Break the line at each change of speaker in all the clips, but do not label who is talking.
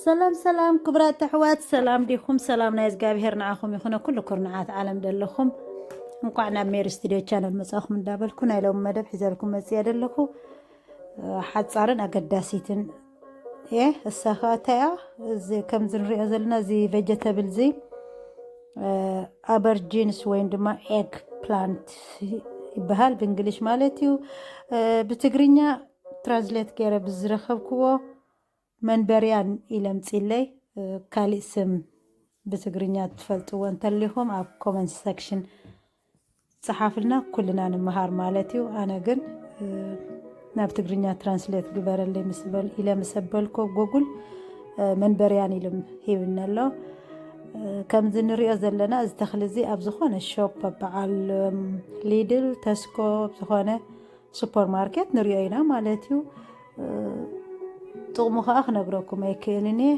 ሰላም ሰላም ክብራት ኣሕዋት ሰላም ዲኹም? ሰላም ናይ እግዚኣብሄር ንዓኹም ይኹነ ኩሉ ኩርንዓት ዓለም ደለኹም እንኳዕ ናብ ሜሪ ስቱድዮ ቻነል መጻኹም እንዳበልኩ ናይ ሎሚ መደብ ሒዘልኩም መጽያ ደለኹ ሓጻርን ኣገዳሲትን እየ እሳ ከዓ እንታይ እያ እዚ ከምዚ ንሪኦ ዘለና እዚ ቬጀተብል እዚ ኣበርጂንስ ወይም ድማ ኤግ ፕላንት ይበሃል ብእንግሊሽ ማለት እዩ ብትግርኛ ትራዝሌት ገይረ ብዝረከብክዎ መንበርያን ኢለ ኣምጺለይ ካሊእ ስም ብትግርኛ ትፈልጥዎ እንተሊኹም ኣብ ኮመንት ሰክሽን ጸሓፍልና ኩልና ንምሃር ማለት እዩ ኣነ ግን ናብ ትግርኛ ትራንስሌት ግበረለይ ኢለ ምስ ኣበልኮ ጎጉል መንበርያን ኢሉ ሂብኒ ኣሎ ከምዚ ንሪኦ ዘለና እዚ ተኽሊ እዚ ኣብ ዝኾነ ሾፕ በዓል ሊድል ተስኮ ዝኾነ ሱፐር ማርኬት ንሪኦ ኢና ማለት እዩ ጥቕሙ ከዓ ክነግረኩም ኣይክእልን እየ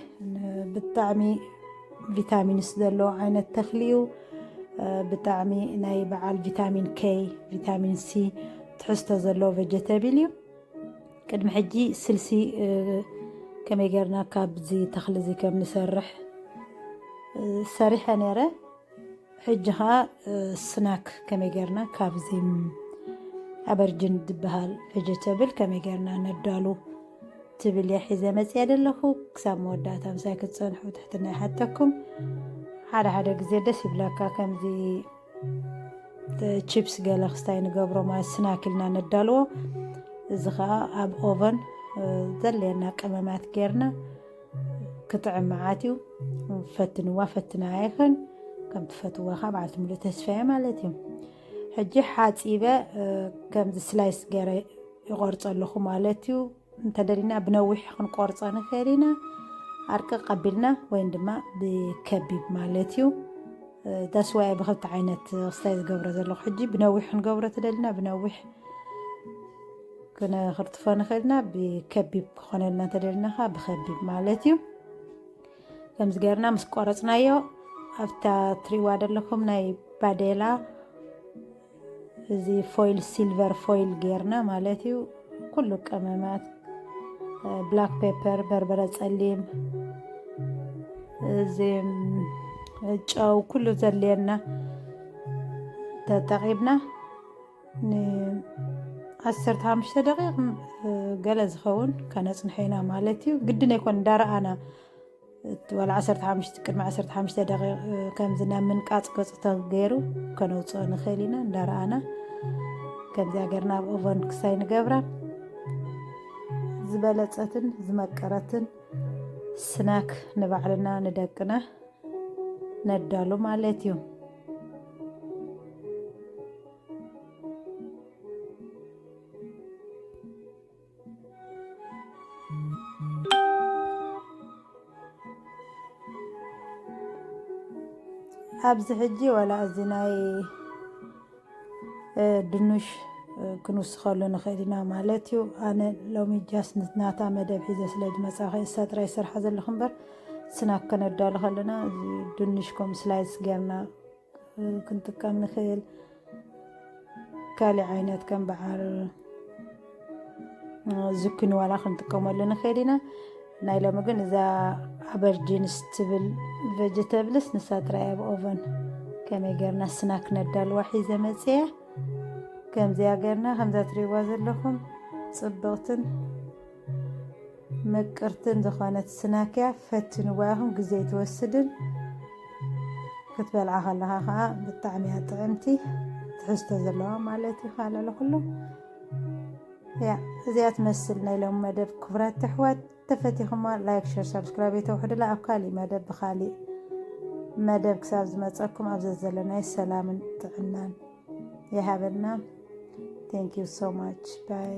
ብጣዕሚ ቪታሚንስ ዘለዎ ዓይነት ተኽሊ እዩ ብጣዕሚ ናይ በዓል ቪታሚን ከይ ቪታሚን ሲ ትሕዝቶ ዘለዎ ቨጀተብል እዩ ቅድሚ ሕጂ ስልሲ ከመይ ጌርና ካብዚ ተኽሊ እዚ ከም ንሰርሕ ሰሪሐ ነይረ ሕጂ ኸኣ ስናክ ከመይ ጌርና ካብዚ ኣበርጅን ዝበሃል ቨጀተብል ከመይ ጌርና ነዳሉ ትብል እየ ሒዘ መፅየ ዘለኹ ክሳብ መወዳእታ ምሳይ ክትፀንሑ ትሕትና ይሓተኩም ሓደ ሓደ ግዜ ደስ ይብለካ ከምዚ ቺፕስ ገለ ክስታይ ንገብሮ ማለት ስናክ ኢልና ነዳልዎ እዚ ከዓ ኣብ ኦቨን ዘድልየና ቅመማት ጌርና ክጥዕም መዓት እዩ ፈትንዋ ፈትናያ ይኽን ከም ትፈትዋ ካብ ዓልቲ ሙሉእ ተስፋ እየ ማለት እዩ ሕጂ ሓፂበ ከምዚ ስላይስ ገረ ይቆርፀ ኣለኹ ማለት እዩ እንተደሊና ብነዊሕ ክንቆርፀ ንኽእል ኢና ዓርቂ ቀቢልና ወይም ድማ ብከቢብ ማለት እዩ ዳስዋያ ብክልተ ዓይነት ክስታይ ዝገብሮ ዘለኹ ሕጂ ብነዊሕ ክንገብሮ ተደሊና ብነዊሕ ክንክርትፎ ንኽእል ኢና ብከቢብ ክኾነልና እንተደልና ከዓ ብከቢብ ማለት እዩ ከምዚ ገርና ምስ ቆረፅናዮ ኣብታ ትሪዋ ዘለኹም ናይ ባዴላ እዚ ፎይል ሲልቨር ፎይል ገርና ማለት እዩ ኩሉ ቀመማት ብላክ ፔፐር በርበረ ፀሊም እዚ ጨው ኩሉ ዘድልየና ተጠቂምና ንዓሰርተ ሓሙሽተ ደቂቕ ገለ ዝኸውን ከነፅንሖ ኢና ማለት እዩ ግድን ኣይኮን እንዳረኣና ዋላ ዓሰርተ ሓሙሽተ ቅድሚ ዓሰርተ ሓሙሽተ ደቂቕ ከምዚ ናብ ምንቃፅ ገፁ ተገይሩ ከነውፅኦ ንኽእል ኢና እንዳረኣና ከምዚያ ገርና ኣብ ኦቨን ክሳይ ንገብራ ዝበለፀትን ዝመቀረትን ስናክ ንባዕልና ንደቅና ነዳሉ ማለት እዩ ኣብዚ ሕጂ ዋላ እዚ ናይ ድኑሽ ክንውስኸሉ ንኽእል ኢና ማለት እዩ ኣነ ሎሚ ጃስ ናታ መደብ ሒዘ ስለ ዝመፃኸ እሳ ጥራይ ዝሰርሓ ዘለኹ እምበር ስናክ ከነዳሉ ከለና እዚ ድንሽ ከም ስላይስ ጌርና ክንጥቀም ንኽእል ካሊእ ዓይነት ከም በዓል ዝኩኒ ዋላ ክንጥቀመሉ ንኽእል ኢና ናይ ሎሚ ግን እዛ ኣበርጂንስ ትብል ቨጀተብልስ ንሳ ጥራይ ኣብ ኦቨን ከመይ ጌርና ስናክ ነዳልዋ ሒዘ መፅየ ከምዚያ ጌርና ከምዛ ትሪእዋ ዘለኹም ፅብቕትን ምቅርትን ዝኾነት ስናክያ ፈትንዋ ኢኹም ግዜ ኣይትወስድን ክትበልዓ ከለኻ ከዓ ብጣዕሚ እያ ጥዕምቲ ትሕዝቶ ዘለዋ ማለት እዩ ካለ ለኩሉ ያ እዚኣ ትመስል ናይ ሎም መደብ ክቡራት ተሕዋት ተፈቲኹማ ላይክ ሸር ሳብስክራይብ የተውሕድላ ኣብ ካሊእ መደብ ብካሊእ መደብ ክሳብ ዝመፀኩም ኣብ ዘዘለናይ ሰላምን ጥዕናን ይሃበልና ቴንክ ዩ ሶ ማች ባይ